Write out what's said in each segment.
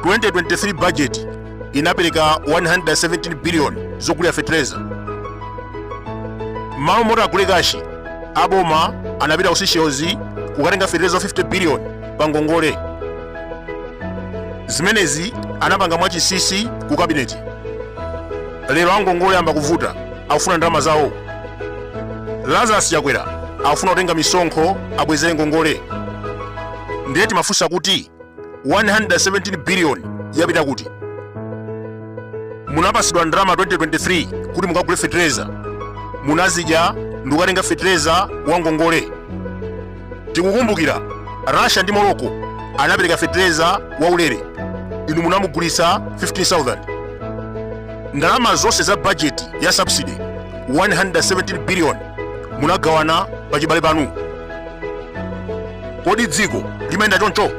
2023 budget inapereka 117 billion zogulira fetereza malo moti agule kashi aboma anapita ku seychelles kukatenga fetereza 50 billion pa ngongole zimenezi anapanga mwachisisi ku kabineti lero angongole ayamba kuvuta akufuna ndalama zawo lazarus chakwera akufuna kutenga misonkho abwezere ngongole ndiye timafunsa kuti 117 biliyoni yapita kuti munapasidwa ndalama 2023 kuti mukagule fetereza munazidya ndikukatenga fetereza wa ngongole tikukumbukira russia ndi morocco anapereka fetereza waulere inu munamugulitsa 15000 ndalama zonse za bajeti ya subsidy 117 billion munagawana pa chibale panu kodi dziko limayenda choncho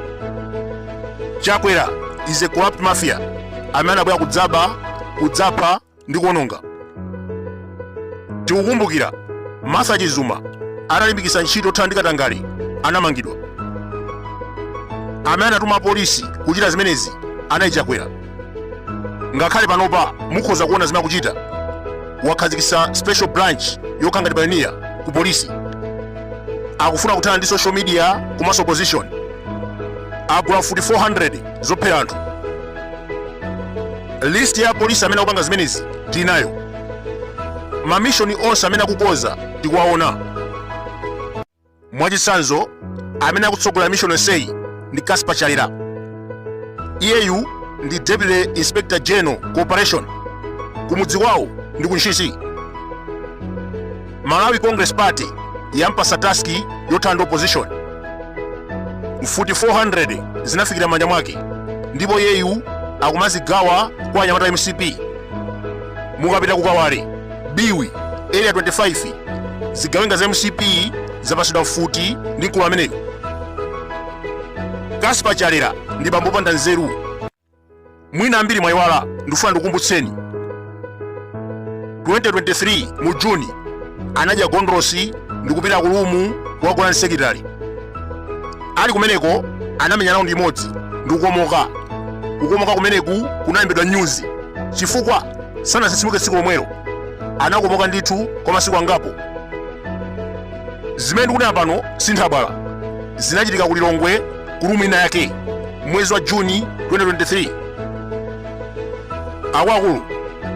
chakwera is a corrupt mafia amene anabwera kudzaba kudzapha ndi kuononga tikukumbukira martha chizuma analimbikitsa ntchito yothana ndi katangale anamangidwa amene anatuma polisi kuchita zimenezi anali chakwera ngakhale panopa mukhoza kuona zimene akuchita wakhazikitsa special branch yokhala ngati payoniya ku polisi akufuna kuthana ndi social media komanso opposition agula mfuti 400 zophera anthu list ya polisi amene akupanga zimenezi tinayo mamishoni onse amene akukonza tikuwaona mwachitsanzo amene akutsogolera mishoni yonseyi ndi Casper Chalera iyeyu ndi Deputy Inspector General ku Operation kumudzi kwawo ndi ku Ntchisi malawi congress party yampasa taski yothana ndi opposition mfuti 400 zinafikira mmanja mwake ndipo iyeyu akumazigawa kwa anyamata a mcp mukapita ku kawale biwi area 25 zigawenga za mcp zapasidwa mfuti ndi mkulu ameneyo casper chalera ndi bambo opanda nzeru mwina ambiri mwayiwala ndifuna ndikukumbutseni 2023 mu juni anadya gondolosi ndikupita ku lumu kukagona ndi secretary ali kumeneko anamenya raundi imodzi ndikukomoka kukomoka kumeneku kunalembedwa nyuzi chifukwa sanatsitsimuke tsiku lomwelo anakomoka ndithu kwa masiku angapo zimene ndikunena pano sinthabwala zinachitika ku lilongwe ku rumu ina yake mwezi wa juni 2023 akuluakulu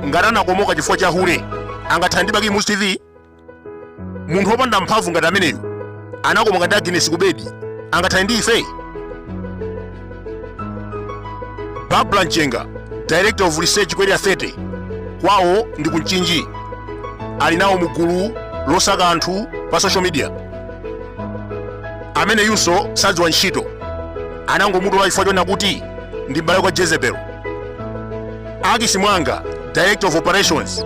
ngati anakomoka chifukwa cha hule angathane ndi bakili muluzi tv munthu wopanda mphamvu ngati ameneyu anakomoka ndi aginesi kubedi angathane ndi ife barbra mchenga director of research ku area 30 kwawo ndi ku mchinji ali nawo mu gulu losaka anthu pa social media ameneyunso sadziwa ntchito anangomutola chifukwa chonena kuti ndi m'bale kwa jezebel akisi mwanga director of operations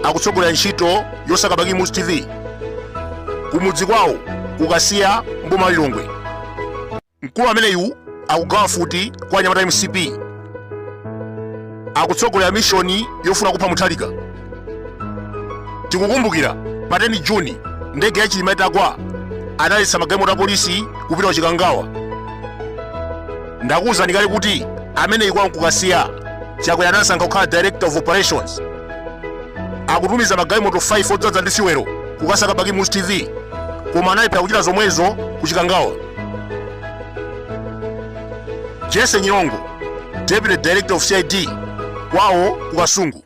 akutsogolera ntchito yosaka bakili muluzi tv kumudzi kwawo ku kasiya m'boma lilongwe Mkulu ameneyu akugawa mfuti kwa anyamata a mcp akutsogolera mishoni yofuna kupha mutharika tikukumbukira pa 10 juni ndege ya chilima itagwa analetsa magalimoto a polisi kupita ku chikangawa ndakuwuzani kale kuti ameneyi kwawo n'ku kasiya chakwera anasankha kukhala director of operations akutumiza magalimoto 5 odzadza ndi siwero kukasaka bakili muluzi tv koma analephera kuchita zomwezo ku chikangawa jesse nyirongo deputy director of cid kwawo ku kasungu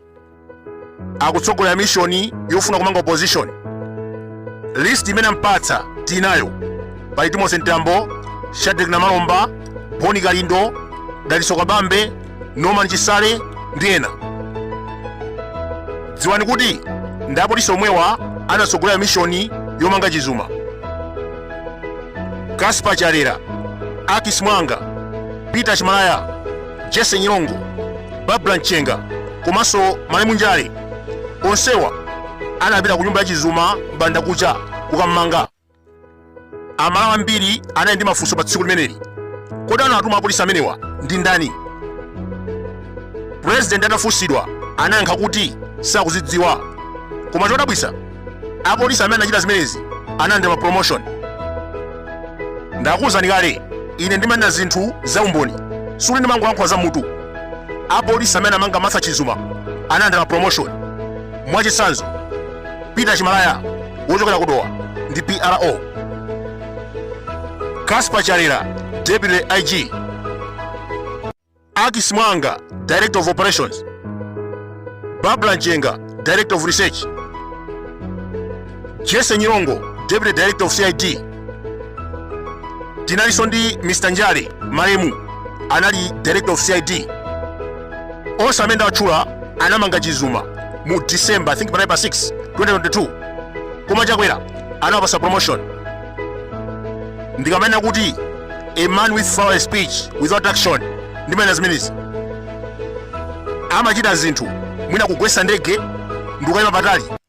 akutsogolera mishoni yofuna kumanga opposition list imene ampatsa tinayo pali timothy mtambo shadric namalomba boni kalindo dalitso kabambe norman chisale ndi ena dziwani kuti ndi apolisi omwewa anatsogolera mishoni yomanga chizuma casper chalera akis mwanga peter chimalaya jesse nyirongo barbra mchenga komanso malemu njale onsewa anapita ku nyumba ya chizuma m'bandakucha kukammanga amalawi ambiri anali ndi mafunso pa tsiku limeneli kodi anatuma apolisi amenewa ndi ndani purezidenti atafunsidwa anayankha kuti sakuzidziwa koma chodabwitsa apolisi amene anachita zimenezi analandira mapromotion ndakuwuzani kale ine ndimanena zinthu za umboni sikuti ndimangolankhula za mutu apolisi amene amanga martha chizuma analandira mapromotion mwachitsanzo Peter Chimalaya wochokera ku Dowa ndi PRO. Casper Chalera, Deputy IG. Akis Mwanga, Director of Operations. Barbra Mchenga, Director of Research. Jesse Nyirongo, Deputy Director of CID. Tinalinso ndi Mr. Njale malemu anali Director of CID. onse amene ndawatchula anamanga Chizuma mu December I think panali pa 6 2022 koma Chakwera anawapasa promotion ndikamanena kuti a man with full speech without action ndimanena zimenezi amachita zinthu mwina kugwetsa ndege ndikukayima patali